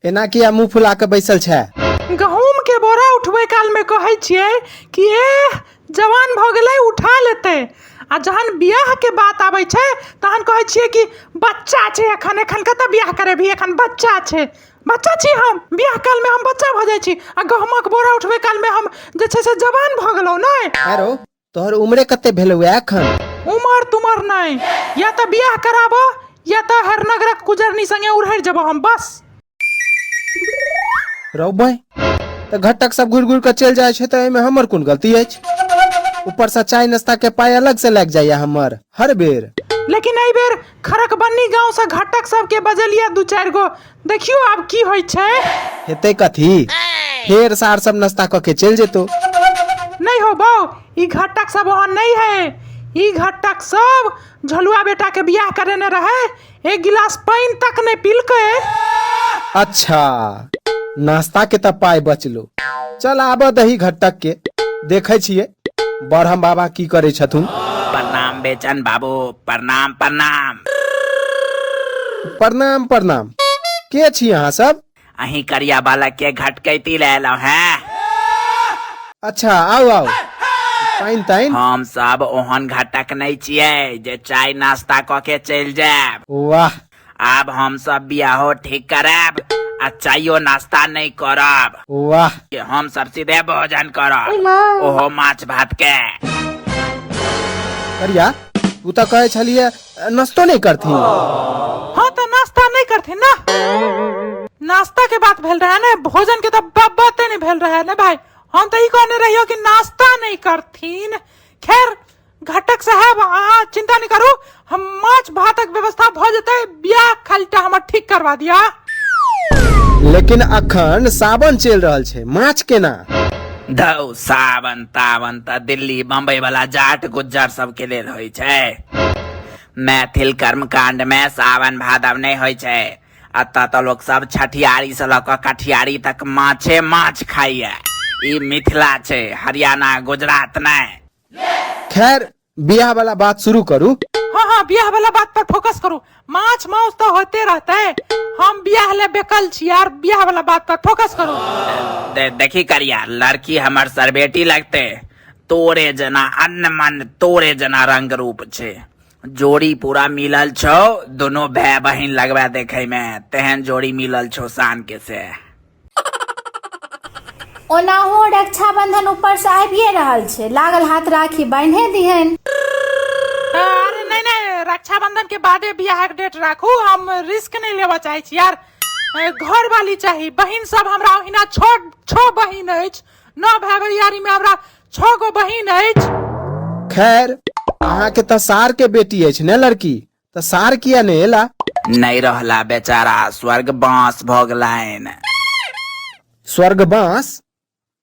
एना किया मुंह फुला के बैसल छै गहूम के बोरा उठबै काल में कहै छियै कि ए जवान भऽ गेलै उठा लेतै आ जहन बियाह के बात आबै छै तहन कहै छियै कि बच्चा छै एखन एखन कतऽ बियाह करेबही एखन बच्चा छै बच्चा छी हम बियाह काल में हम बच्चा भऽ जाइ छी आ गहूमक बोरा उठबै काल में हम जे छै से जवान भऽ गेलहुँ नहि आरो तोहर उम्रे कते भेलौए एखन उमर तुमर नहि या तऽ बियाह कराबऽ या तऽ हर नगरक कुजरनी संगे उड़हर जब हम बस रौबै तऽ घटक सब घुरि घुरि कऽ चलि जाइ छै तऽ एहिमे हमर कोन गलती अछि ऊपरसँ चाय नाश्ता के पाइ अलग से लागि जाइए हमर हर बेर लेकिन एहि बेर खरकबन्नी गाँवसँ घटक सबके बजलियै दू चारि गो देखियौ आब की होइ छै हेतै कथी फेर सार सब नाश्ता कऽ के चलि जेतौ नहि हो बौ ई घटक सब ओहन नहि है ई घटक सब झलुआ बेटा के बियाह करेने रहे एक गिलास पानि तक नहि पीलकै अच्छा नाश्ता के तऽ पाय बचलो चल आबऽ दही घटक के देखै छियै बरहम बाबा की करै छथुन प्रणाम बेचन बाबू प्रणाम प्रणाम प्रणाम प्रणाम के छी अहाँ सब अहीं करिया बालक के घटकैती ले एलहुं हैं अच्छा आउ आउ पाइन ताइन हम सब ओहन घटक नहीं छियै जे चाय नाश्ता क के चलि जायब वाह आब हम सब बियाहो ठीक करब आ चायो नाश्ता नहीं करब वाह कि हम सब सीधे भोजन करब ओय माँ। ओहो माछ भात के करिया तू तऽ कहै छलिए नाश्तो नहि करथिन हाँ तो नाश्ता नहीं करते ना नाश्ता के बात भेल रहा है ना भोजन के तो ब- बाते नहीं भेल रहा है ना भाई हम तो ई कहने रहियो कि नाश्ता नहीं करतीन खैर घटक साहब अहाँ चिंता नहीं करू हम माछ भातक व्यवस्था भ जेतै बियाह खालीटा हमर ठीक करवा दिया लेकिन अखन सावन चलि रहल छै माछ केना धौ सावन तावन तऽ दिल्ली बम्बई वाला जाट गुज्जर सबके लेल होइ छै मैथिल कर्मकांड मे सावन भादव नहि होइ छै एतऽ तऽ लोक सब छठियारी से लऽ कऽ कठियारी तक माछे माछ खाइए ई मिथिला छै हरियाणा गुजरात नहि खैर बियाह वाला बात शुरू करू हाँ हाँ बियाह वाला बात पर फोकस करू माछ माउस तो होते रहते हैं हम बियाह ले बेकल छी यार बियाह वाला बात पर फोकस करू दे, देखी करिया लड़की हमर सरबेटी लगते तोरे जना अन्न मन तोरे जना रंग रूप छे जोड़ी पूरा मिलल छो दोनों भाई बहिन लगवा देखे में तेहन जोड़ी मिलल छो शान के से ओनाहो रक्षाबंधन ऊपर से आबिए रहल छै लागल हाथ राखी बान्हे दिहन अरे नहीं नहीं रक्षाबंधन के बादे बियाह के डेट राखू हम रिस्क नहीं लेवा चाहे छी यार ए, घर वाली चाहिए बहन सब हमरा ओहिना छो छो बहन अछि नौ भाई भैयारी में हमरा छो गो बहन अछि खैर अहाँके तऽ सार के बेटी अछि ने लड़की तऽ सार किया ने एला नहि रहला बेचारा स्वर्ग बाँस भऽ गेलनि स्वर्ग बाँस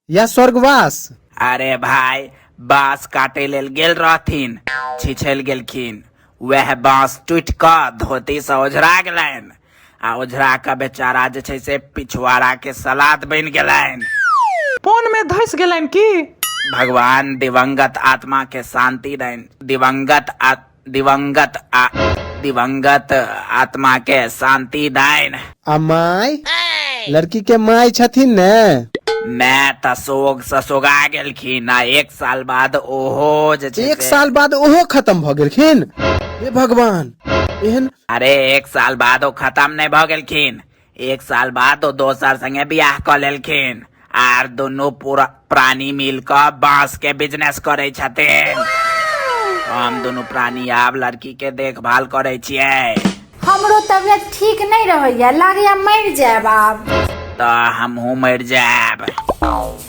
या स्वर्गवास अरे भाय बाँस काटे लेल गेल रहथिन छिछल गेलखिन वएह बाँस टूटि कऽ धोती से ओझरा गेलनि आ ओझरा कऽ बेचारा जे छै से पिछवाड़ा के सलाद बनि गेलनि फोन में धस गेलन की भगवान दिवंगत आत्मा के शांति दनि दिवंगत आत्मा दिवंगत आ दिवंगत आत्मा के शांति दाइन आ माय लड़की के माय छथिन ने मैं तऽ सोग से सोगा गेलखिन आ एक साल बाद ओहो जे छै एक से- साल बाद ओहो खत्म भऽ गेलखिन हे भगवान एहन अरे एक साल बाद ओ खत्म नहि भऽ गेलखिन एक साल बाद ओ दोसर संगे बियाह क लेलखिन आर दुनू पूरा प्राणी मिल क बांस के बिजनेस करे छथिन हम दुनू प्राणी आब लड़की के देखभाल करे छिए हमरो तबियत ठीक नहीं रहैया लागैया मर जाएब आब त हमहू मर जाएब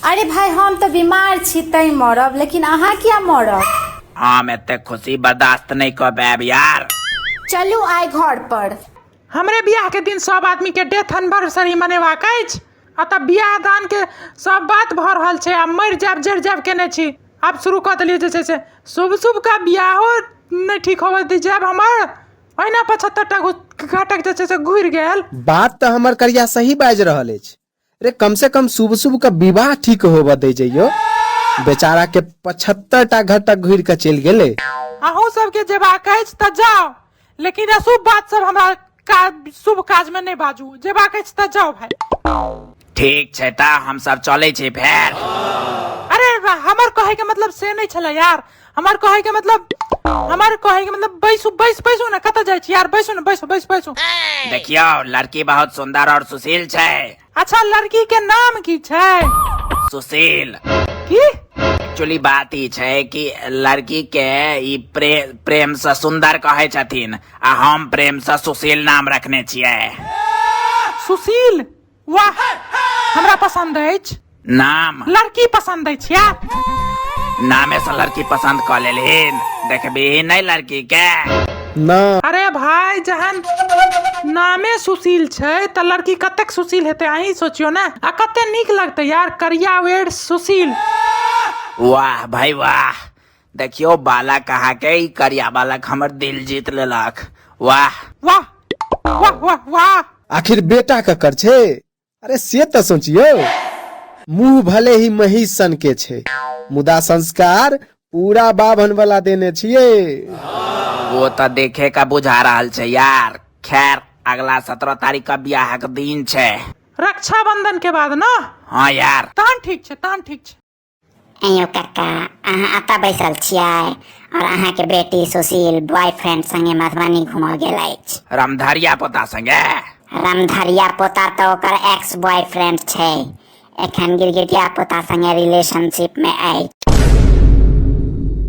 अरे भाई हम तो बीमार छी तै मरब लेकिन अहाँ किया मरब हम एते खुशी बर्दाश्त नहीं कर पाएब यार चलू आइ घर पर हमरे बियाह के दिन सब आदमी के डेथ एनिवर्सरी मनेबाक अछि आ तब बियाह दान के सब बात भऽ रहल छै आ मरि जायब जरि जायब केने छी आब शुरू कऽ देलियै जे छै से शुभ शुभ का बियाहो नहि ठीक होबऽ दी जायब हमर ओहिना पचहत्तर टा घाटक जे छै से घुरि गेल बात तऽ हमर करिया सही बाजि रहल अछि रे कम से कम शुभ शुभ के विवाह ठीक होबऽ दे जइयो बेचारा के पचहत्तर टा घर तक घुर के चलि गेले अहूँ सबके जेबाक अछि तऽ जाउ लेकिन अशुभ बात सब हमरा काज शुभ काज में नहि बाजू जेबाक अछि तऽ जाउ भाई ठीक छै तऽ हमसब चलै छी फेर अरे रा- हमर कहे के मतलब से नहि छले यार हमार कहे के मतलब हमार कहे के मतलब बैसू बैस बैसू ना कत जाय छी यार बैसू ना बैसू बैस बैसू देखियो लड़की बहुत सुंदर और सुशील छै अच्छा लड़की के नाम की छै सुशील की एक्चुअली बात ई छै कि लड़की के ई प्रे, प्रेम से सुंदर कहे छथिन आ हम प्रेम से सुशील नाम रखने छियै सुशील वाह हमरा पसंद अछि नाम लड़की पसंद अछि या नामे से लड़की पसंद कर लेलिन देखबी नहीं लड़की के ना अरे भाई जहन नामे सुशील छै त लड़की कतेक सुशील हेतै अहीं सोचियो ने आ कते नीक लगतै यार करिया वेड सुशील वाह भाई वाह देखियो बालक अहाँके ई करिया बालक हमर दिल जीत लेलक वाह वाह वाह वाह वाह आखिर बेटा ककर छै अरे से तऽ सोचियो मुंह भले ही मही सन के छै मुदा संस्कार पूरा बाभन वाला देने छियै वो तऽ देखे का बुझा रहल छै यार खैर अगला सत्रह तारीख का बियाहक दिन छै रक्षाबंधन के बाद ना हाँ यार तहन ठीक छै तहन ठीक छै अयो काका अहाँ अतः बैसल छियै और अहाँ के बेटी सुशील बॉयफ्रेंड संगे मधुबनी घूमऽ गेल अछि रामधारिया पोता संगे रामधरिया पोता तऽ ओकर एक्स बॉयफ्रेंड छै एखन गिरगिटिया पोता संगे रिलेशनशिप में अछि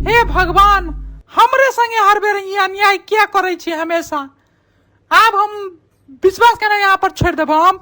हे भगवान हमरे संगे हर बेर ई अन्याय किया करै छी हमेशा आब हम विश्वास केना यहाँ पर छोड़ि देबो हम